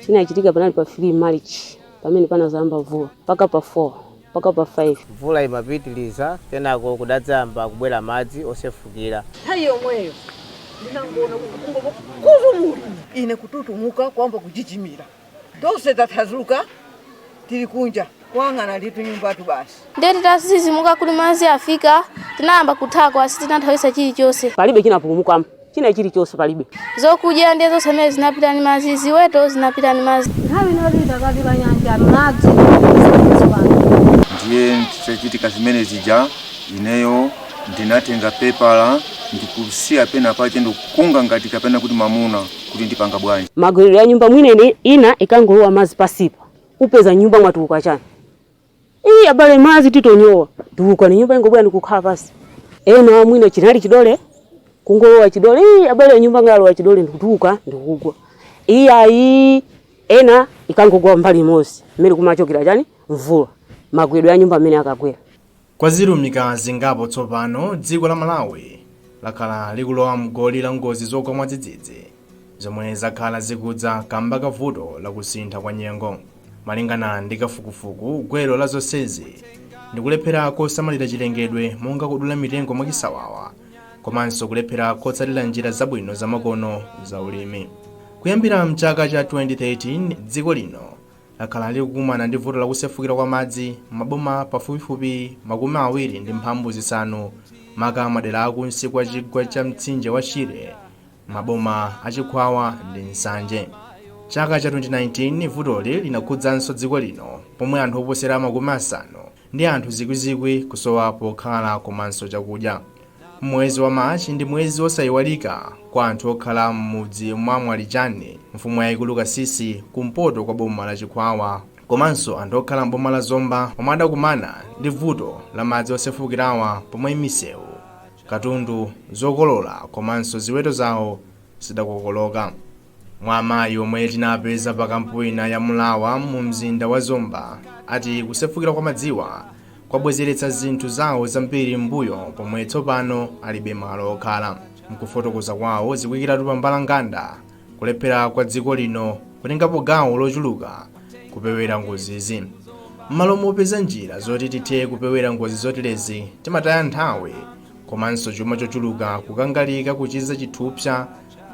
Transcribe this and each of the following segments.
chinachitika panali pa 3 march pamene panazayamba mvula mpaka pa 4 mpaka pa 5 mvula imapitiliza kenako kudadzayamba kubwera madzi osefukira nthawi yomweyo ndinangoona kuti kungova kuzumulira ine kututumuka kuyamba kuchichimira Tonse tathazuka tili kunja kuyang'ana ndi tunyumbatu basi. Ndiye titadzidzimuka kuti madzi afika, tinayamba kuthawa koma sitinathawitsa chilichonse. Palibe chinapulumuka, china chilichonse palibe. Zokudya ndiye zonse zimene zinapita ndi madzi, ziweto zinapita ndi madzi. Nthawi ino tili pakati pa nyanja, madzi kudutsa pansi pano. Ndiye zitachitika zimene zija, ineyo ndinatenga pepala ndikusiya pena pache ndikukunga ngati kapena kuti mamuna. kuti ndipanga bwanji magwedwe ya nyumba mwina ina ikangolowa mazi pasipa upeza nyumba mwatuluka chani iyi abale mazi titonyowa tulukani nyumba ingobwera ndikukhala pasi ena mwina chinali chidole kungolowa chidole iyi abale ya nyumba ingolowa chidole ndikutuluka ndikugwa iyi ayi ena ikangogwa mbali imozi mmene kumachokera chani mvula magwedwe ya nyumba mmene akagwera Kwa zilumika zingapo tsopano, dziko la Malawi lakhala likulowa m'goli la ngozi zogwa mwadzidzidzi zomwe zakhala zikudza kamba ka vuto la kusintha kwa nyengo. Malingana ndi kafukufuku, gwero la zonsezi ndi kulephera kosamalira chilengedwe monga kudula mitengo mwachisawawa komanso kulephera kotsatira njira zabwino zamakono za ulimi. Kuyambira m'chaka cha 2013, dziko lino lakhala likukumana ndi vuto la kusefukira kwa madzi m'maboma pafupifupi makumi awiri ndi mphambu zisanu maka madera akunsi kwa chigwa cha mtsinje wa Shire m'maboma a Chikhwawa ndi Nsanje. Chaka cha 2019 vutoli linakhudzanso dziko lino pomwe anthu oposera makumi asanu ndi anthu zikwizikwi kusowa pokhala komanso chakudya. Mwezi wa March ndi mwezi wosayiwalika kwa anthu okhala m'mudzi mwa Mwalijani, mfumu yayikulu Kasisi kumpoto kwa boma la Chikhwawa komanso anthu okhala m'boma la Zomba omwe adakumana ndi vuto la madzi osefukirawa pomwe misewu, katundu, zokolola komanso ziweto zawo zidakokoloka. Mwa amayi omwe tinapeza pa kampu ina ya Mulawa mu mzinda wa Zomba ati kusefukira kwa madziwa kwabwezeretsa zinthu zawo zambiri m'mbuyo pomwe tsopano alibe malo okhala. Mkufotokoza kwawo zikuyikiratu pa mbalanganda kulephera kwa dziko lino kutengapo gawo lochuluka kupewera ngozizi. M'malo mopeza njira zoti tithe kupewera ngozi zoterezi timataya nthawi komanso chuma chochuluka kukangalika kuchiza chithupsa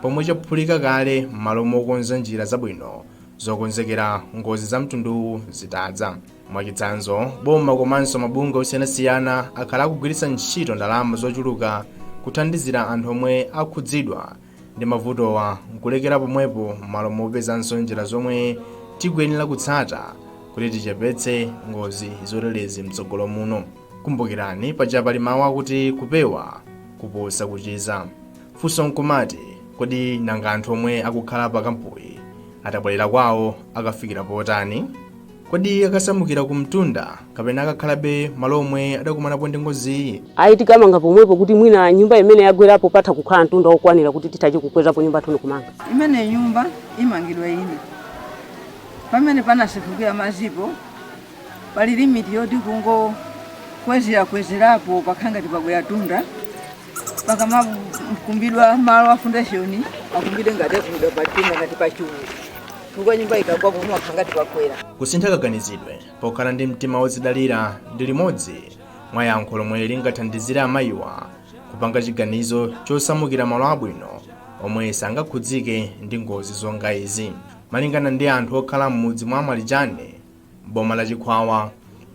pomwe chaphulika kale m'malo mokonza njira zabwino zokonzekera ngozi za mtunduwu zitadza mwachitsanzo boma komanso mabungwe osiyanasiyana akhala akugwiritsa ntchito ndalama zochuluka kuthandizira anthu omwe akhudzidwa ndi mavutowa nkulekera pomwepo m'malo mopezanso njira zomwe tikuyenera kutsata kuti tichepetse ngozi zoterezi mtsogolo muno kumbukirani paja pali mawu akuti kupewa kuposa kuchiza funso nkumati kodi nanga anthu omwe akukhala pa kampuyi atabwerera kwawo akafikira potani Kodi akasamukira kumtunda kapena akakhalabe malo omwe adakumanapo ndi ngoziyi? Ayi, tikamanga pomwepo kuti mwina nyumba imene yagwerapo patha kukhala mtunda wokwanira kuti tithe kukwezapo nyumba yathu ndi kumanga. Imene nyumba imangidwa ina, pamene panasefukira madzipo pali limiti yoti kungokwezerakwezerapo pakhala ngati pakwera mtunda, pakamakumbidwa malo a foundation akumbidwe ngati akumbidwa pamtunda ngati pachulu. chifukwa nyumba ikagwa pamakhala ngati pakwera Kusintha kaganizidwe pokhala ndi mtima wodzidalira ndi limodzi mwa yankho lomwe lingathandizire amayiwa kupanga chiganizo chosamukira malo abwino omwe sangakhudzike ndi ngozi zonga izi. Malingana ndi anthu okhala m'mudzi mwa Mwalija, m'boma la Chikhwawa.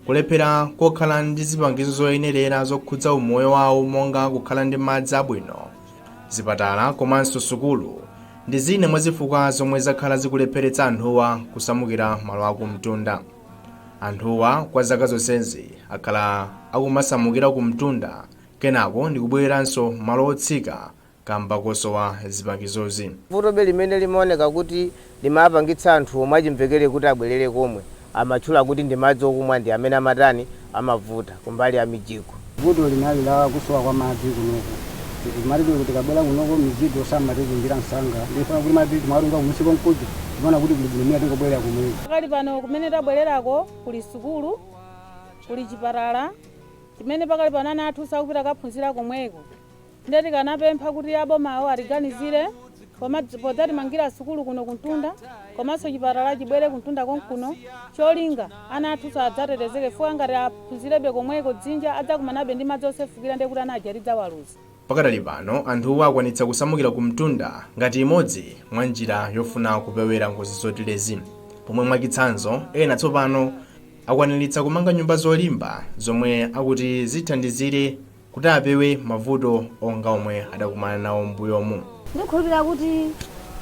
Kulephera kokhala ndi zipangizo zoyenerera zokhudza umoyo wawo monga kukhala ndi madzi abwino, zipatala komanso sukulu ndi zina mwa zifukwa zomwe zakhala zikulepheretsa anthuwa kusamukira malo akumtunda. Anthuwa kwa zaka zonsezi akhala akumasamukira kumtunda kenako ndikubwereranso malo otsika kamba kosowa zipangizozi. Vutobe limene limaoneka kuti limapangitsa anthu omwe achimvekere kuti abwerere komwe amatchula kuti ndi madzi okumwa ndi amene amatani, amavuta kumbali ya mijigo. Vuto linali la kusowa kwa madzi kunoko chifukwa timati tikabwera kunoko mijigo samatitungira msanga ndiye chifukwa kuti madzi timawatunga kumusi konkuja timaona kuti kuli bwino mwina tingobwerera komweko. Pakali pano kumene tabwererako kuli sukulu, kuli chipatala chimene pakali pano ana athu sakupita kaphunzira komweko. Nde tikanapempha kuti abomawo atiganizire podzatimangira sukulu kuno kumtunda komanso chipatala chibwere kumtunda konkuno cholinga ana athunso adzatetezeke chifukwa ngati aphunzirebe komweko dzinja adzakumanabe ndi madzi osefukira ndekuti ana aja tidzawaluza. Pakadali pano anthuwa akwanitsa kusamukira kumtunda ngati imodzi mwa njira yofuna kupewera ngozi zoterezi pomwe mwachitsanzo ena tsopano akwaniritsa kumanga nyumba zolimba zomwe akuti zithandizire kuti apewe mavuto onga omwe adakumana nawo m'mbuyomu. Ndikhulupirira kuti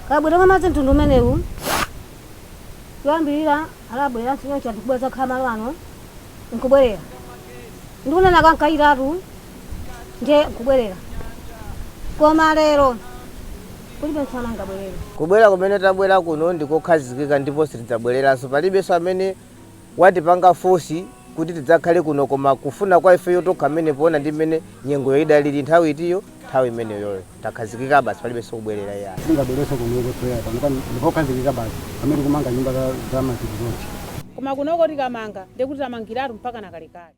kabweredwe ka madzi mtundu umenewu choyambirira adabweranso choncho anthu kubwera kudzakhala malo ano nkubwerera ndi kunena ka nkayitatu ndiye nkubwerera koma lero kulibe munthu amene angabwerere. Kubwera kumene tabwera kuno ndikokhazikika ndipo sitidzabwereranso. Palibenso amene watipanga force kuti tidzakhale kuno koma kufuna kwa ifeyo tokha mmene poona ndi mmene nyengoyo idalili nthawi itiyo nthawi imeneyoyo takhazikika basi palibenso kubwerera iyayi singabwereso kunoko toyera pano pano ndipokhazikika basi pamene kumanga nyumba za- za matikizochi koma kunoko tikamanga ndekuti tamangiratu mpaka nakalekale